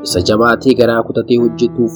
isa jabaatee garaa kutatee hojjetuuf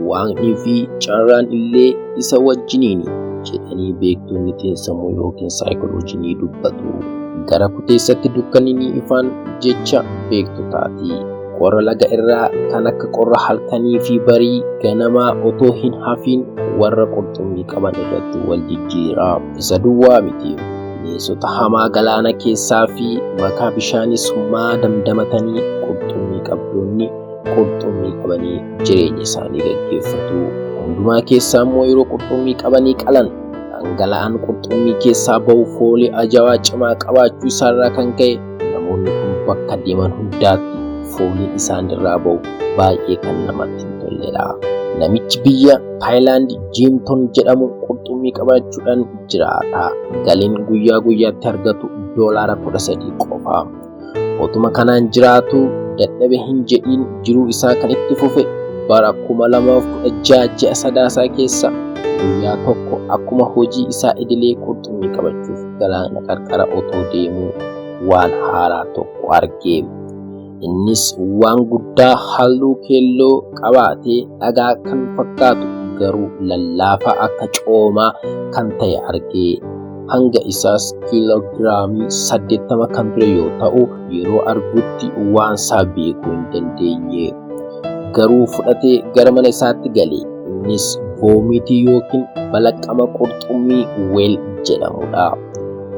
waaqnii fi carraan illee isa wajjiniini jedhanii beektoonni xiinsammuu yookiin saayikoloojii ni dubbatu. Gara kuteessatti dukkanni ni ifaan jecha beektotaati. Qorra laga irraa kan akka qorra halkanii fi barii ganamaa otoo hin hafiin warra qurxummii qaban irratti wal jijjiira. Isa duwwaa miti. Bineensota hamaa galaana keessaa fi makaa bishaanii summaa damdamatanii qurxummii qabdoonni qurxummii qabanii jireenya isaanii gaggeeffatu. Hundumaa keessaa immoo yeroo qurxummii qabanii qalan dhangala'aan qurxummii keessaa bahu foolii ajawaa cimaa qabaachuu isaarraa kan ka'e Namoonni kun bakka deeman hundaatti fooliin isaan irraa ba'u baay'ee kan namatti hin tolledha. Namichi biyya Taayilaand Jiimton jedhamu qurxummii qabachuudhaan jiraata. Galiin guyyaa guyyaatti argatu doolaara kudha sadii qofa. Otuma kanaan jiraatu dadhabe hin jedhiin jiruu isaa kan itti fufe bara kuma lamaaf kudha ja'a ji'a sadaasaa keessa guyyaa tokko akkuma hojii isaa idilee qurxummii qabachuuf galaana qarqara otoo deemuu waan haaraa tokko arge. Innis waan guddaa halluu keelloo qabaatee dhagaa kan fakkaatu garuu lallaafaa akka coomaa kan ta'e arge. Hanga isaas kiiloogiraamii 80 kan ture yoo ta'u yeroo argutti waan isaa beekuu hin dandeenye. Garuu fudhatee gara mana isaatti gale. Innis voomitii yookiin balaqqama qurxummii weel jedhamudha.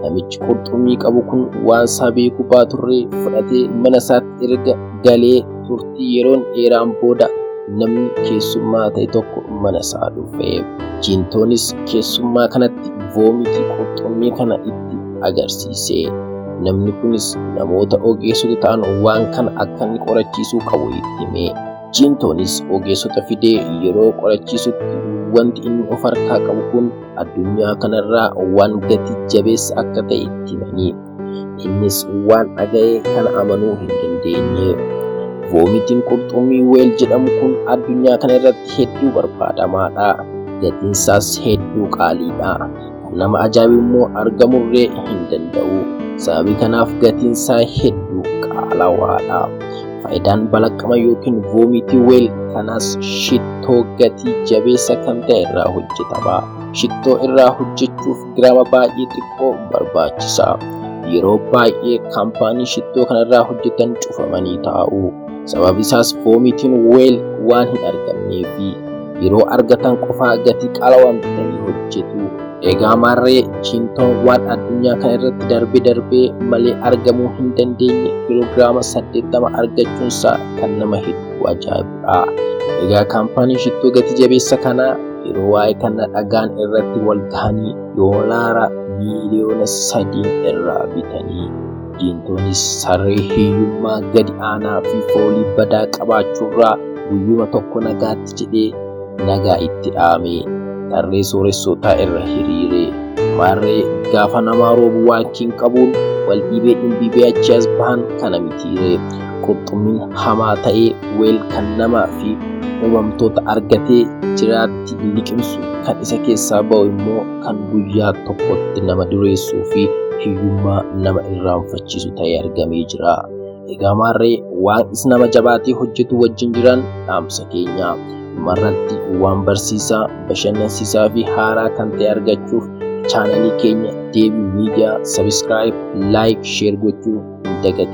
Namichi qurxummii qabu kun waan isaa beekuu baaturre fudhatee mana isaatti erga galee turtii yeroon dheeraan booda namni keessummaa ta'e tokko mana isaa dhufe. Jiintoonis keessummaa kanatti voomitii qurxummii kana itti agarsiise. Namni kunis namoota ogeessota ta'an waan kana akka inni qorachiisuu qabu itti hime. Ciintoonis ogeessota fidee yeroo qorachiisutti wanti inni of harkaa qabu kun addunyaa kanarraa waan gati jabeessa akka ta'e itti himanii innis waan dhaga'e kana amanuu hin dandeenye. Voomitiin qurxummii weel jedhamu kun addunyaa kana irratti hedduu barbaadamaadha. Gatiinsaas hedduu qaaliidha. nama ajaa'ibu immoo argamurree hin danda'u. Sababii kanaaf gatiin isaa hedduu qaalawaadha. Faayidaan balaqqama yookiin voomitii weel kanaas shittoo gatii jabeessa kan ta'e irraa hojjetama. Shittoo irraa hojjechuuf giraama baay'ee xiqqoo barbaachisa. Yeroo baay'ee kaampaanii shittoo kanarraa hojjetan cufamanii taa'u. Sababi isaas voomitiin weel waan hin argamneefi. yeroo argatan qofaa gatii qaalawaan bitanii hojjetu. Egaa maarree chiintoon waan addunyaa kana irratti darbe darbee malee argamuu hin dandeenye kiloogiraama 80 argachuunsaa kan nama hedduu ajaa'ibudha. Egaa kaampaaniin shittoo gati jabeessa kanaa yeroo waa'ee kana dhagaan irratti wal gahanii doolaara miiliyoona sadiin irraa bitanii Diintoonis saree hiyyummaa gadi aanaa fi foolii badaa qabaachuurraa guyyuma tokko nagaatti jedhee nagaa itti dhaamee tarree sooressootaa irra hiriiree maarree gaafa namaa roobu waankiin qabuun wal dhiibee dhimbiibee achi as bahan kana mitiiree qurxummiin hamaa ta'ee weel kan namaa fi uumamtoota argatee jiraatti liqimsu kan isa keessaa ba'u immoo kan guyyaa tokkotti nama dureessuu fi hiyyummaa nama irraanfachiisu ta'ee argamee jira. Egaa maarree waan is nama jabaatee hojjetu wajjin jiran dhaamsa keenya. Dhumarratti waan barsiisaa, bashannansiisaa fi haaraa kan ta'e argachuuf chaanalii keenya Deebii Miidiyaa sabiskiraayib, laayik, sheer gochuu hin dagatin.